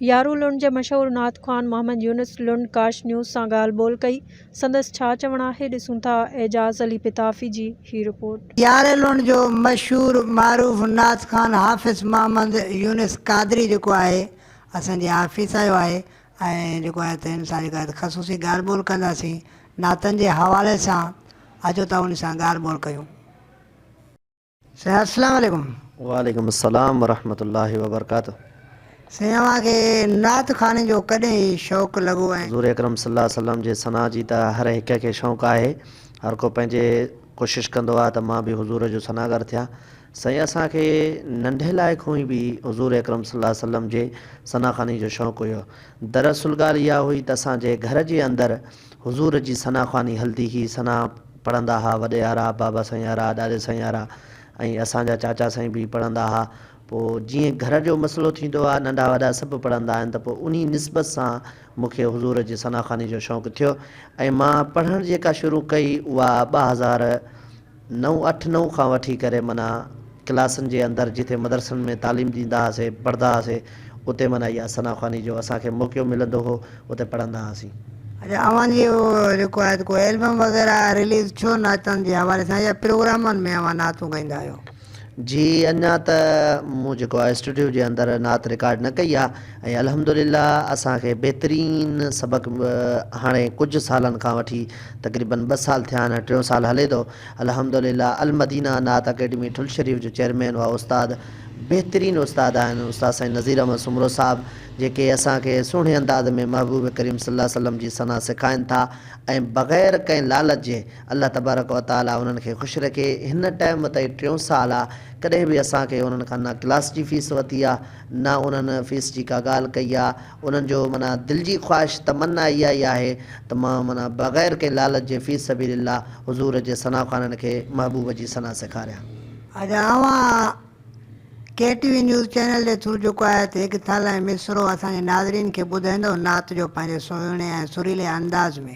يارو لنڊ جي مشهور نعت خوان محمد يونس لنڊ ڪاش نيوز سان ڳالهه ٻولهه ڪئي، سندس ڇا چوڻ آهي ڏسون ٿا اعجاز علي پتافي جي هي رپورٽ. يارو لنڊ جو مشهور معروف نعت خوان حافظ محمد يونس قادري جيڪو آهي اسان جي آفيس آيو آهي ۽ جيڪو آهي تنهن سان جيڪو آهي خصوصي ڳالهه ٻولهه ڪنداسين نعتن جي حوالي سان اچو ته ان سان ڳالهه ٻولهه ڪيون. سيان السلام عليڪم. وعليڪم السلام ورحمة الله وبرڪاته. سائين اوهان کي نعت خواني جو ڪڏهن شوق لڳو ۽. حضور اڪرم صلي الله عليه وسلم جي ثنا جي ته هر هڪ کي شوق آهي هر ڪو پنهنجي ڪوشش ڪندو آهي ته مان به حضور جو ثناگر ٿيان سائين اسان کي ننڍي لاء کون ئي به حضور اڪرم صلي الله عليه وسلم جي ثنا خواني جو شوق هيو دراصل ڳالهه اها هئي ته اسان جي گهر جي اندر حضور جي ثنا خواني هلدي هئي، ثنا پڙهندا ها وڏي آرا، بابا سائين آرا، ڏاڏي سائين آرا ۽ اسان جا چاچا سائين به پڙهندا ها. پوء جيئن گهر جو مسئلو ٿيندو آ، ننڍا وڏا سڀ پڙهندا آهن ته پوء انهي نسبت سان مون کي حضور جي ثنا خواني جو شوق ٿيو ۽ مان پڙهڻ جيڪا شروع ڪئي اها ٻه هزار نو اٺ نو کان وٺي ڪري معنيٰ ڪلاسن جي اندر جتي مدرسن ۾ تعليم ڏيندا هئاسي پڙهندا هئاسي اتي معنيٰ اها ثنا خواني جو اسان کي موقعو ملندو هو اتي پڙهندا هئاسين. اچا اوهان جي اهو جيڪو آهي ته ڪو البم وغيره رليز ڇو نعتن جي حوالي سان يا پروگرامن ۾ اوهان نعتون ڳائيندا آهيو؟ جي اڃا ته مون جيڪو آهي اسٽوڊيو جي اندر نعت رڪارڊ نه ڪئي آهي ۽ الحمد لله اسان کي بهترين سبق هاڻي ڪجهه سالن کان وٺي تقريبن ٻه سال ٿيا آهن ٽيون سال هلي ٿو الحمد لله المدينه نعت اڪيڊمي ٺل شريف جو چيئرمين اها استاد بهترين استاد آهن استاد سائين نذير احمد سومرو صاحب جيڪي اسان کي سهڻي انداز ۾ محبوب ڪريم صلي الله عليه وسلم جي ثنا سکائين ٿا ۽ بغير ڪنهن لالچ جي الله تبارڪ و تعالي انهن کي خوش رکي هن ٽائيم تائين ٽيون سال آ ڪڏهن به اسان کي انهن کان نه ڪلاس جي فيس ورتي آ نه انهن فيس جي ڪا ڳالهه ڪئي آ انهن جو معنيٰ دل جي خواهش تمنا اها ئي آهي ته مان معنيٰ بغير ڪنهن لالچ جي في سبيل الله حضور جي ثنا خوانن کي محبوب جي ثنا سيکاريان. اڄ اوهان K T V news channel جي ٿرو جيڪو آهي ته هڪ ٿل ۽ مصرعو اسان جي ناظرين کي ٻڌائيندؤ نعت جو پنهنجي سهڻي ۽ سريلي انداز ۾.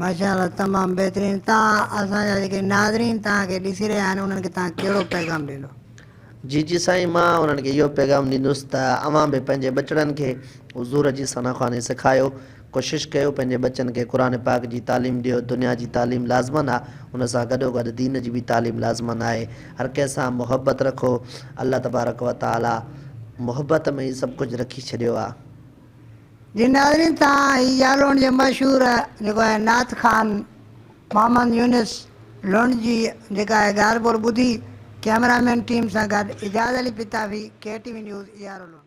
ماشاء الله تمام بهترين توهان اسان جا جيڪي ناظرين توهان کي ڏسي رهيا آهن انهن کي توهان ڪهڙو پيغام ڏيندو. جي جي سائين مان انهن کي اهو پيغام ڏيندس ته اوهان به پنهنجي ٻچڙن کي حضور جي ثنا خواني سکايو ڪوشش ڪيو پنهنجي ٻچن کي قرآن پاڪ جي تعليم ڏيو دنيا جي تعليم لازمن آ ان سان گڏو گڏ دين جي به تعليم لازمن آهي هر ڪنهن سان محبت رکو الله تبارڪ وتعالي محبت ۾ ئي سڀ ڪجهه رکي ڇڏيو آ. جي ناظرين تان هي جالوڻ جي مشهور جيڪو آهي نعت خوان محمد يونس لنڊ جي جيڪا آهي ڳالهه ٻولهه ٻڌي ڪيمرا مين ٽيم سان گڏ Ijaz Ali Patafi, K T V news, Yaru Lund.